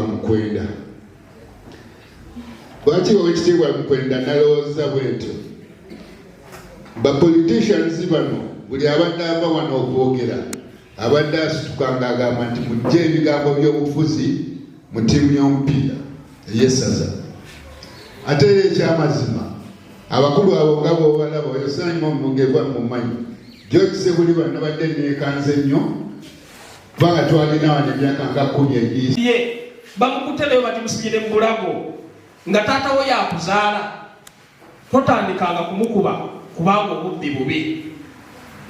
Mukwenda. Lwaki owekitiibwa Mukwenda nalowooza bwentyo? Ba politicians bano buli abadde ava wano okwogera abadde asituka nga agamba nti mujje ebigambo by'obufuzi mu ttiimu y'omupiira ey'essaza. Ate era ekyamazima abakulu abo nga bwobalaba oyo Simon Mugevwa mumanyi gyokise buli bano nabadde neekanze nnyo kubanga twalina wano emyaka nga kumi egiyise ye bamukutte nayo batimusibyire mu bulago nga taata wo yakuzaala totandikanga kumukuba kubanga obubbi bubi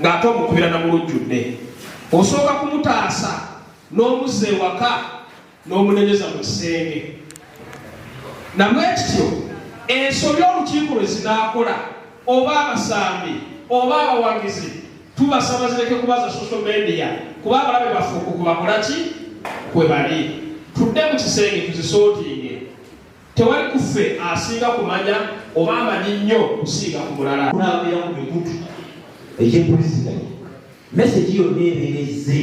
ng'ate omukubira na mu lujjudde osooka kumutaasa n'omuzza ewaka n'omunenyeza mu kisenge namwe kityo ensobi olukiiko lwe zinaakola oba abasambi oba abawagizi tubasaba zireke kuba za social media kuba abalabe baffe okukubakola ki kwe bali tudde mu kisenge tuzisootinge Tewali ku ffe asinga kumanya oba amanyi nnyo kusinga ku mulala. Kulambira ku mikutu egy'empuliziganya, mesegi yonna ebeera ezze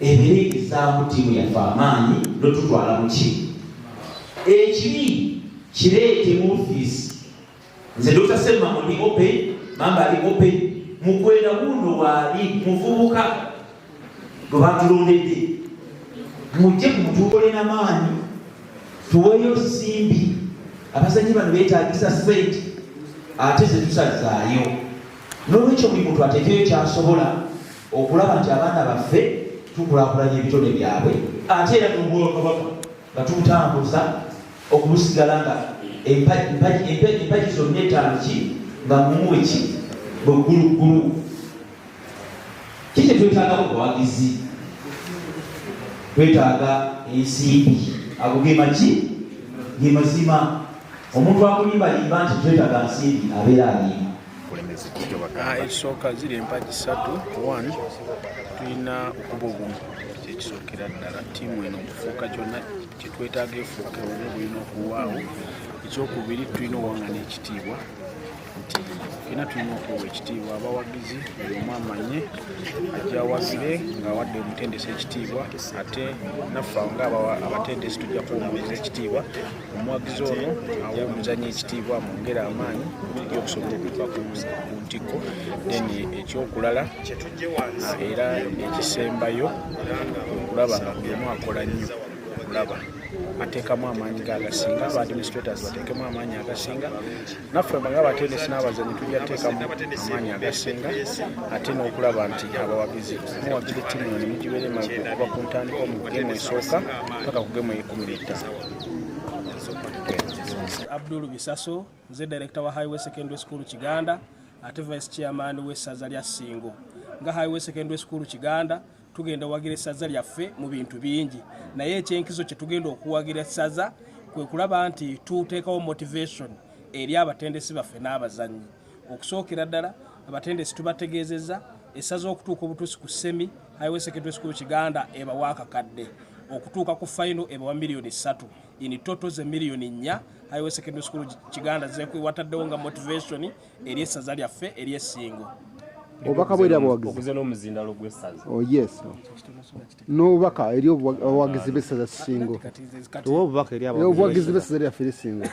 ebeera egezaamu ttiimu yaffe amaanyi n'otutwala mu kimu. Ekibi kireete mu ofiisi. nze dr semmango ndi open mamba ali open mukwenda gundo waali muvubuka gwe batulondedde mujje ku mutuukole na maanyi tuweeyo simbi abazanyi bano beetagisa sente ate zetusazaayo nolwekyo buli muntu atekeyo kyasobola okulaba nti abaana baffe tukulakulanya ebitone byabwe ate era nobwakabaka nga tubutambuza okubusigala nga empagi zonna etaano ki nga mumu eki bwegguluggulu kikye twetaaga mu buwagizi twetaaga ensimbi ago ge magi ge mazima omuntu akulimbalimba nti twetaaga nsimbi abeera alimba ah, ekisooka ziri empagi satu one tulina okuba obumu kyekisookera ddala tiimu eno okufuuka kyonna kyetwetaaga efuuke omu bulina okuwaawo ekyokubiri tulina owangana ekitiibwa nti fena tulina okuwa ekitiibwa abawagizi buli omu amanye ajawagire ngaawadde omutendesi ekitiibwa ate naffe nga abatendesi tujja kuwumuliza ekitiibwa omuwagizi ono awa omuzanyo ekitiibwa amwongere amaanyi tujja okusobola okuva ku ntikko then ekyokulala era ekisembayo okulaba nga buli omu akola nnyo okulaba ateekamu amaanyi ge agasinga aba administrators bateekemu amaanyi agasinga naffe nga abatendesi n'abazanyi tujja teekamu amaanyi agasinga ate n'okulaba nti abawagizi muwagira ettimu eno ne mugibeera emagu okuva ku ntandika omu gemu esooka paka ku gemu eyekumi n'ettaano Abdul Bisaso nze director wa Highway Secondary School Kiganda ate vice chairman we saza lya Singo nga Highway Secondary School Kiganda tugenda wagira saza lyaffe mu bintu bingi naye ekyenkizo kye tugenda okuwagira saza kwe kulaba nti tuteekawo motivation eri abatendesi baffe n'abazannyi okusookera ddala abatendesi tubategeezezza essaza okutuuka obutuusi ku semi highway secondary school kiganda ebawa akakadde okutuuka ku fayino ebawa miliyoni ssatu in toto ze miliyoni nnya highway secondary school kiganda zekwewataddewo nga motivation eri essaza lyaffe eri esingo obubaka bwera buwagizi oh, n'obubaka eri obuwagizi b'essaza singo obuwagizi b'essaza lyaffe lisingo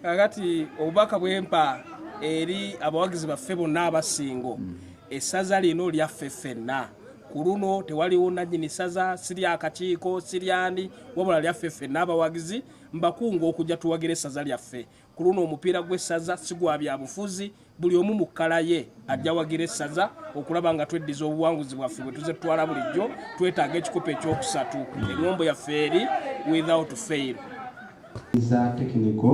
kakati obubaka bwempa eri abawagizi baffe bonna abasingo mm. essaza lino lyaffe ffenna ku luno tewaliwo nannyini ssaza siri akakiiko siryani wabula lyaffe ffenna abawagizi mbakunga okujja tuwagira essaza lyaffe ku luno omupiira gw'essaza sigwa byabufuzi buli omu mu kkala ye ajja wagira essaza okulaba nga tweddiza obuwanguzi bwaffe bwe tuze tutwala bulijjo twetaaga ekikopo ekyokusatu eŋombo yaffe eri without fail za tekiniko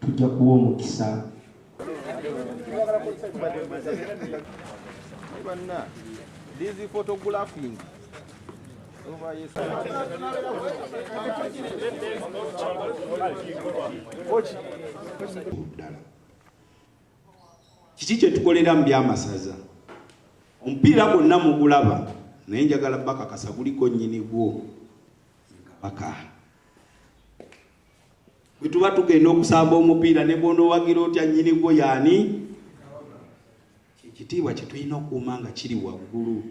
tujja kuwa omukisa These photographing Ochi. kiki kyetukolera mu byamasaza omupiira gwonna mugulaba naye njagala bakakasa guliko nyini gwo kabaka bwe tuba tugenda okusamba omupiira ne bwonowagira otya nyini gwo yaani ekitiibwa kyetulina okuuma nga kiri waggulu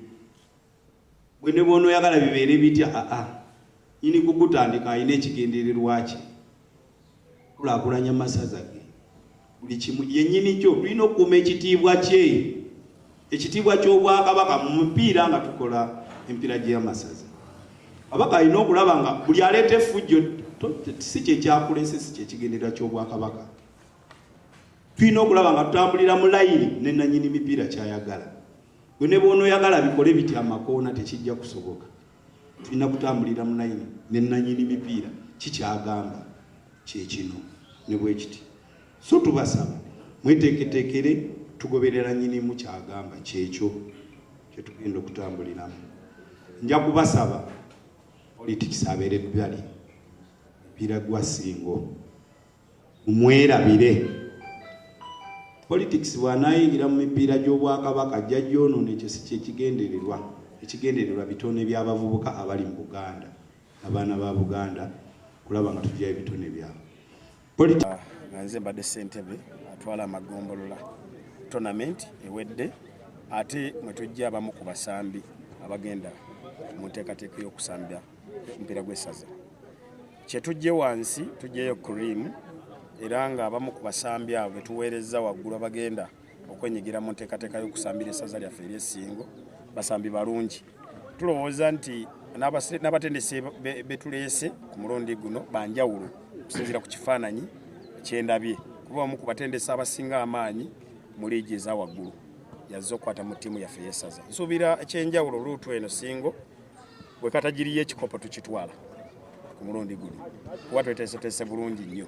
gwe ne bwonoyagala bibeere bitya aa nyini kugutandika alina ekigendererwa kye kulakulanya masaza ge buli kimu yenyini kyo tulina okukuuma ekitiibwa kye ekitiibwa ky'obwakabaka mu mupiira nga tukola empiira gy'amasaza abaka alina okulaba nga buli aleeta efujjo si kyekyakulese si kyekigendererwa ky'obwakabaka tulina okulaba nga tutambulira mu layini ne nanyini mipiira kyayagala gwe ne bwonoyagala bikole biti amakoona tekijja kusoboka tulina kutambulira mu layini ne nanyini mipiira kikyagamba kyekino ne bwekiti so tubasaba mweteeketeekere tugoberera nyinimu kyagamba kyekyo kyetugenda okutambuliramu nja kubasaba politics abeere bbali mipiira gwa singo mumwerabire politics bwanayingira mu mipiira gy'obwakabaka ajja gyonoona ekyo si kyekigendererwa ekigendererwa bitone by'abavubuka abali mu buganda abaana ba buganda kulaba nga tujjayo ebitone byabwe ah, nga nze mbadde ssentebe atwala amagombolola tournament ewedde ate mwe tujja abamu ku basambi abagenda mu nteekateeka y'okusambira omupiira gw'essaza kye tujje wansi tujjeyo cream era ng'abamu ku basambi abo be tuweerezza waggulu abagenda okwenyigira mu nteekateeka y'okusambira essaza lyaffe ery'essingo basambi balungi tulowooza nti n'abatendesi betuleese ku mulundi guno banjawulo okusinziira ku kifaananyi kyendabye kuba omu ku batendesi abasinga amaanyi mu liigi eza waggulu yazze okukwata mu ttiimu yaffe yesaza nsuubira ekyenjawulo luutu eno singo bwe katagiriyo ekikopo tukitwala ku mulundi guno kuba tweteeseteese bulungi nnyo